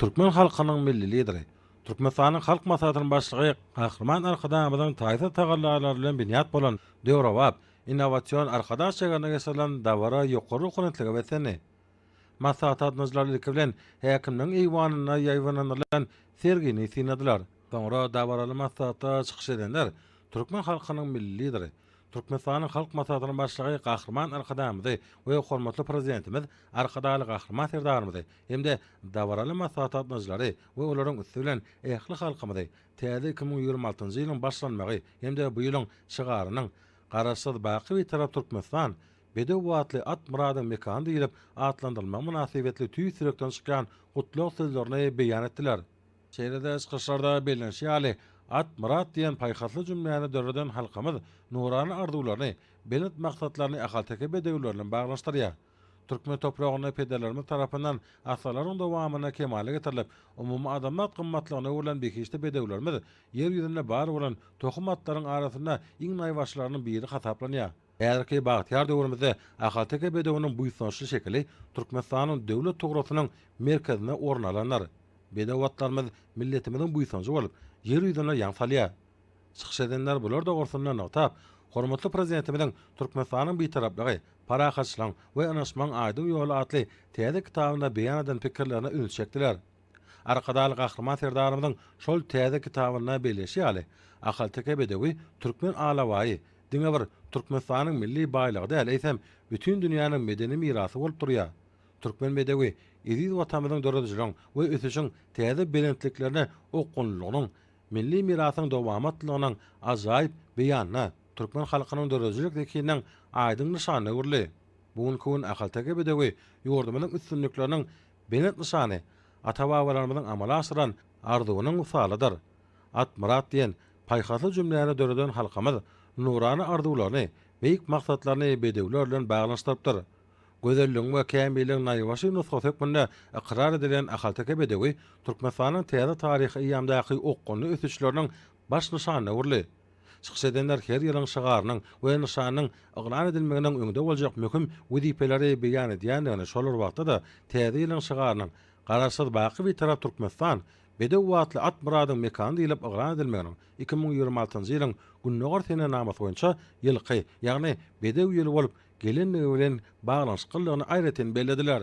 Türkmen halkynyň Milli Lideri, Türkmenistanyň Halk Maslahatynyň Başlygy Gahryman Arkadagymyzyň taýsyz tagallalary bilen binýat bolan döwrebap, innowasion Arkadag şäherinde geçirilen dabara ýokary ruhubelentlige beslendi. Maslahat gatnaşyjylary ilki bilen Häkimligiň eýwanynda ýaýbaňlandyrylan sergini synladylar. Soňra dabaraly maslahatda çykyş edenler türkmen halkynyň Milli Lideri, Türkmenistanyň Halk Maslahatynyň Başlygy Gahryman Arkadagymyzy we hormatly Prezidentimiz Arkadagly Gahryman Serdarymyzy hem-de dabaraly maslahat gatnaşyjylary we olaryň üsti bilen ähli halkymyzy täze iki müň ýigrimi altynjy ýylyň başlanmagy hem-de bu ýylyň şygarynyň Garaşsyz, baky Bitarap Türkmenistan, bedew batly at Myradyň mekany diýlip atlandyrylmagy mynasybetli tüýs ýürekden çykýan gutlag sözlerini beýan etdiler. Şeýle-de çykyşlarda bellenişi ýaly, At myrat diýen paýhasly jümläni döreden halkymyz nurana arzuwlaryny, belent maksatlaryny ahalteke bedewleri bilen baglanyşdyrýar. Türkmen topragynda pederlerimiz tarapyndan asyrlaryň dowamynda kemala getirilip, umumyadamzat gymmatlygyna öwrülen behişdi bedewlerimiz Ýer ýüzünde bar bolan tohum atlaryň arasynda iň naýbaşylarynyň biri hasaplanýar. Häzirki bagtyýar döwrümizde ahalteke bedewiniň buýsançly şekili Türkmenistanyň Döwlet tugrasynyň merkezinde orun alandyr. Bedew atlarymyz milletimiziň buýsanjy bolup, ýer ýüzüne ýaň salýar. Çykyş edenler bular dogrusynda nygtap, hormatly Prezidentimiziň Türkmenistanyň Bitaraplygy, parahatçylygyň we ynanyşmagyň aýdyň ýoly atly täze kitabynda beýan eden pikirlerine ünsi çekdiler. Arkadagly Gahryman Serdarymyzyň şol täze kitabynda belleşi ýaly, ahalteke bedewi türkmen alabaýy diňe bir Türkmenistanyň milli baýlygy däl, eýsem, bütin dünýäniň medeni mirasy bolup durýar. Türkmen bedewi eziz Watanymyzyň döredijiligiň we ösüşiň täze belentliklerine okgunlylygynyň, milli mirasyň dowamatlylygynyň ajaýyp beýanyna, türkmen halkynyň döredijilik zehininiň aýdyň nyşanyna öwrüldi. Bu günki gün ahalteke bedewi ýurdumyzyň üstünlikleriniň Belent nyşany, ata-babalarymyzyň amala aşyran arzuwynyň wysalydyr. At myrat diýen paýhasly jümläni döreden halkymyz nurana arzuwlaryny, beýik maksatlaryny bedewler bilen baglanyşdyrypdyr. Gözelligiň we kämilligiň naýbaşy nusgasy hökmünde ykrar edilen ahalteke bedewi Türkmenistanyň täze taryhy eýýamdaky okgunly ösüşleriniň Baş nyşan döwürli çykyş edenler her ýylyň şygarynyň we nyşanyň yglan edilmeginiň öňde boljak möhüm wezipeleri beýan edýändigini, şol bir wagtda-da täze ýylyň şygarynyň Garaşsyz, baky Bitarap Türkmenistan, bedew batly at Myradyň mekany diýlip yglan edilmeginiň iki müň ýigrimi altynjy ýylyň Gündogar senenamasy boýunça ýylky, ýagny bedew ýyly bolup gelendigi bilen baglanyşyklydygyny aýratyn bellediler.